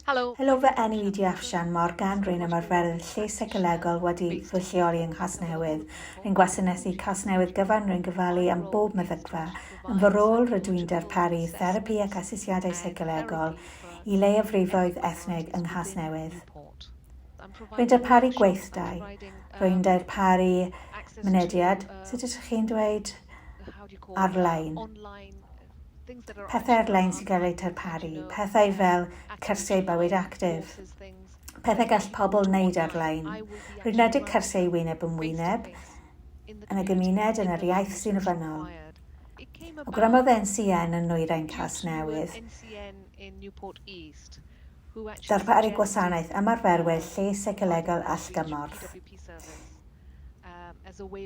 Helo, Helo fy enw i di Afshan Morgan, rwy'n ymarferydd lles seicolegol wedi fy lleoli yng Nghasnewydd. Rwy'n gwasanaethu Casnewydd gyfan, rwy'n gofalu am bob meddygfa. Yn fy rôl rydw i'n darparu therapi ac asesiadau seicolegol i leiafrifoedd ethnig yng Nghasnewydd. Rwy'n darparu gweithdai, rwy'n darparu mynediad, sut ydych chi'n dweud, ar-lein. pethau ar-lein sy'n cael eu tarparu, pethau fel cyrsiau bywyd actif, pethau gall pobl wneud ar-lein. Rwy'n rhedeg cyrsiau wyneb yn wyneb, yn y gymuned, yn yr iaith sy'n ofynnol. Awgrymodd NCN yn Nwyrain Casnewydd ddarparu gwasanaeth ymarferwyr lles seicolegol allgymorth.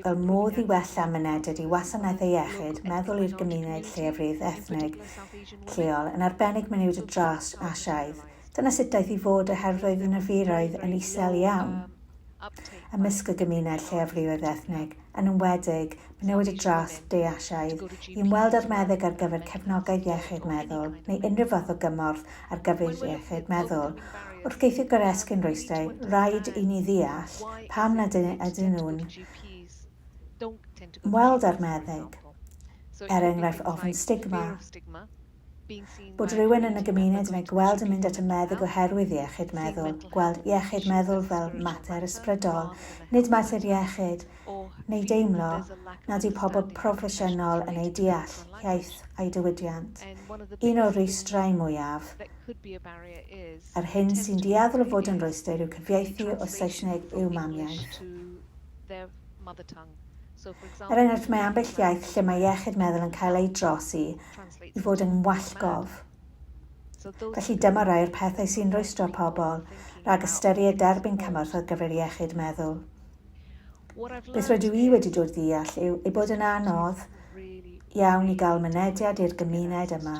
y modd i wella mynediad i wasanaethau iechyd meddwl i'r gymuned lleiafrif ethnig lleol, yn arbennig menywod a dros Asiaidd. Dyna sut daeth i fod oherwydd roedd y niferoedd yn isel iawn ymysg y gymuned lleiafrifoedd ethnig, yn enwedig menywod a dros De Asiaidd, i ymweld â'r meddyg ar gyfer cefnogaeth iechyd meddwl neu unrhyw fath o gymorth ar gyfer iechyd meddwl. Wrth geisio goresgyn rwystrau, rhaid i ni ddeall pam nad ydyn nhw'n ymweld â'r meddyg, er enghraifft ofn stigma, bod rhywun yn y gymuned yn ei gweld yn mynd at y meddyg oherwydd iechyd meddwl, gweld iechyd meddwl fel mater ysbrydol, nid mater iechyd, neu deimlo nad yw pobl proffesiynol yn eu deall hiaith a'u diwydiant. Un o'r rhwystrau mwyaf, yr hyn sy'n dueddol o fod yn rhwystr yw cyfieithu o Saesneg i'w mamiaith. Er enghraifft, mae ambell iaith lle mae iechyd meddwl yn cael ei drosi i fod yn wallgof. Felly dyma rai o'r pethau sy'n rhwystro pobl rhag ystyried derbyn cymorth ar gyfer iechyd meddwl. Beth rydw i wedi dod i ddeall yw ei bod yn anodd iawn i gael mynediad i'r gymuned yma.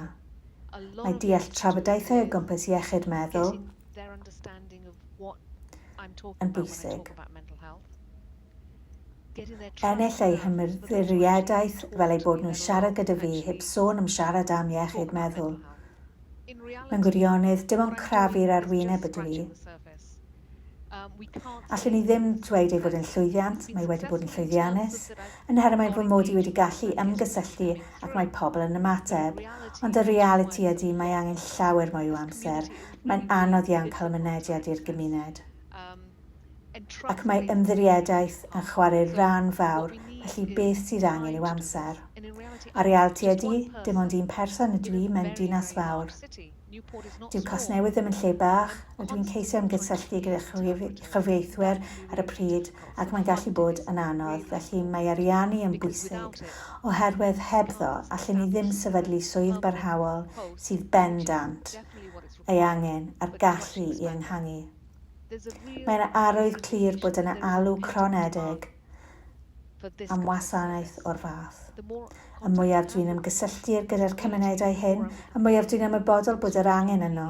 Mae deall trafodaethau o gwmpas iechyd meddwl yn bwysig. Ennill eu hymddiriadaeth fel eu bod nhw'n siarad gyda fi heb sôn am siarad am iechyd meddwl. Mewn gwirionedd, dim ond crafu i'r arwyneb ydw i. Allwn i ddim dweud ei fod yn llwyddiant, mae wedi bod yn llwyddiannus, yn her mae fy mod i wedi gallu ymgysylltu ac mae pobl yn ymateb, ond y realiti ydy mae angen llawer mwy o amser, mae'n anodd iawn cael mynediad i'r gymuned. ac mae ymddiriedaeth yn chwarae rhan fawr felly beth sydd angen yw amser. A realiti ydi, dim ond un person ydw i mewn dinas fawr. Dyw Casnewydd ddim yn lle bach, a dwi'n ceisio ymgysylltu gyda chyfieithwyr ar y pryd ac mae'n gallu bod yn anodd, felly mae ariannu yn bwysig, oherwydd hebddo allen ni ddim sefydlu swydd barhaol sydd bendant ei angen a'r gallu i enghangu. Mae'n arwydd clir bod yna alw cronedig am wasanaeth o'r fath. Y mwyaf dwi'n ymgysylltu gyda'r cymunedau hyn, y mwyaf dwi'n ymwybodol bod yr angen yno.